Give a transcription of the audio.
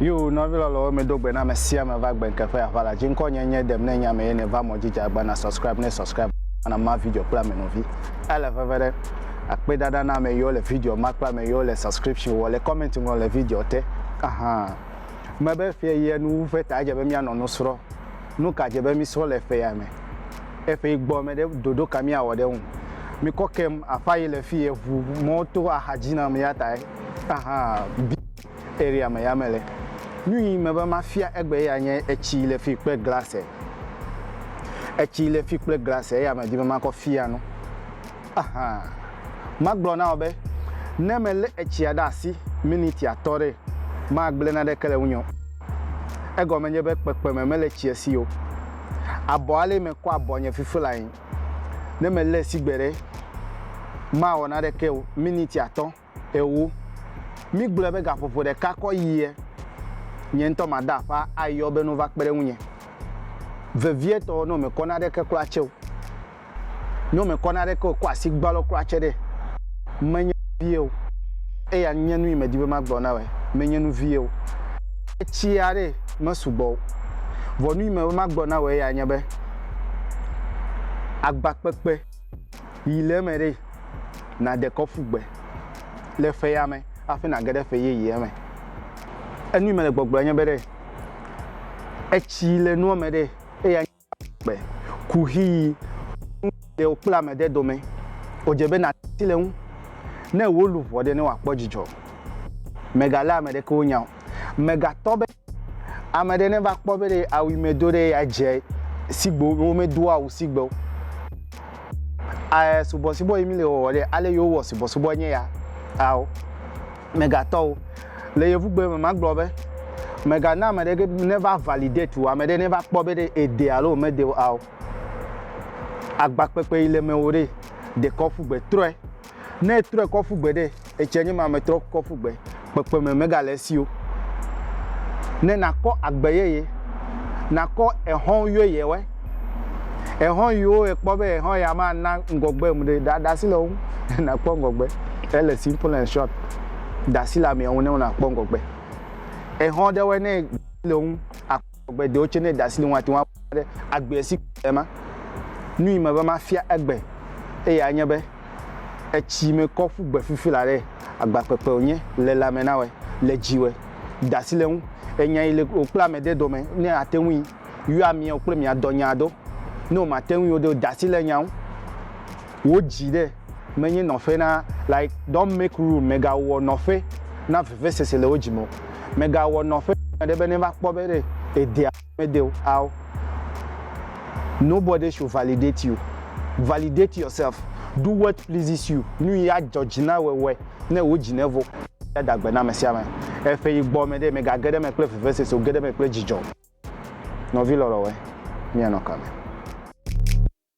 Yo nɔvi lɔlɔwo mi do gbe na me sia me va gbe nkeƒe aƒa la dzi ŋkɔ nye nye dem ne nya me ye ne va mɔ jija gba na subscribe ne subscribe na ma video kple ame nɔvi ele veve ɖe akpe dada na ame yiwo le video ma kple ame yiwo le subscription wɔ le comment ŋlɔ le video te ahan me be fie ye nu ƒe ta dze be mianɔ nu srɔ̃ Nuka dze be misrɔ le ƒe ya me? Eƒe gbɔ me ɖe ɖoɖo ka miawɔ ɖe eŋu? Mikɔ kem aƒa yi le fiye ʋu mɔ to axa dzi nam yatae ahan bi area me ya mele. Nuyi me be mafia egbe ya nye etsi yi le fi kple glase. Etsi yi le fi kple glase eya me di be makɔ fia nu. Aha! Magblɔ na wò be, ne melé etsia ɖe asi miniti atɔ̃ ɖe, magblẽ naneke le ŋunye o. Egɔme nye be kpekpeme mele tsia si o. Abɔ alɛ mekɔ abɔ nye fiflae. Ne melée sigbe ɖe, mawɔ naneke o miniti atɔ̃. Ewo, mígblɔe be gaƒoƒo ɖeka kɔ yie nye ŋutɔ mada aƒa ayɔ be nova kpe ɖe ŋunye. Vevietɔ, nɔ mekɔ naɖeke kura tsɛ o. Nɔ mekɔ naɖeke o, kɔ asi gbalɔ kura tsɛ ɖe. Menye nuvie o. Eya nye nu yi medi be magblɔ na wòe. Menye nuvie o. Etsia ɖe mesugbɔ o. Vɔ nu yi medi be magblɔ na wòe ya nye be, agbakpekpe. Yi le eme ɖe, nàde kɔ ƒu gbe le fea me hafi nàge ɖe ƒe yeyea me. Enu yi mele gbɔgblɔm nye be ɖe, etsi le nua me ɖe, eya nye gbe, kuxi yi ƒe nuɖewo kple ame ɖe dome. Wòdze be nàte asi le eŋu ne wò luʋɔ ɖe ne wòakpɔ dzidzɔ. Mègalé ame ɖeke wo nya o. Mègatɔ be Ame ɖe neva kpɔ be ɖe awu yi medo ɖe ya dze sigbewo be womedoa awu sigbewo. A subɔsubɔ yi mi le wɔwɔ ɖe ale yi wowɔ subɔsubɔ nye ya ao. Megatɔwo, le yevugbe me magblɔ be megana ame ɖe neva validate wò, ame ɖe neva kpɔ be ɖe ede alo womede o ao. Agbakpekpe yi le mewò ɖe dekɔ ƒugbe trɔe. Ne etrɔe kɔ ƒu gbe ɖe, etsia nye ame trɔ kɔ ƒu gbe, kpekpeme megale esi o. Ne nakɔ agbe yeye, nakɔ exɔ̃ yeyewɔe. Exɔ̃ yiwo ekpɔ be exɔ̃ ya mana ŋgɔgbem ɖe, da ɖe asi le wo ŋu ne nàkpɔ ŋgɔgbe. Ele simple and short. Da asi le amea ŋu ne wò nàkpɔ ŋgɔgbe. Exɔ̃ ɖewoe ne le wo ŋu. Agbedewo tse ne ɖasi ɖewo ate ŋu aƒo ɖe agbe si le ma. Nu yi meva mafia egbe eye anye be etsi me kɔ ƒu gbe fifi la ɖe agbakpekpe wònye le lãme na wɔ le dzi wɔ ɖasi le ŋu enya yi le wòkpla ame ɖe dome ne ate ŋui yɔa miawo kple mia dɔ nya do ne wòmate ŋui o ɖe wò ɖasi le nya ŋu. Wò dzi ɖe menye nɔƒe na like don't make room megawɔ nɔƒe na vevesese le wò dzi me o megawɔ nɔƒe na ame aɖe be neva kpɔ be ɖe edea alo medea o ao nobody should validate you validate yourself do what pleases you nuyi adzɔ dzi na wɔ wɔe ne wò dzi nevo da agbe na ame sia ame eƒe yi gbɔ me ɖe megage ɖe eme kple vevesese o ge ɖe eme kple dzidzɔ nɔvi lɔlɔ̃ wɔe mianɔ kame.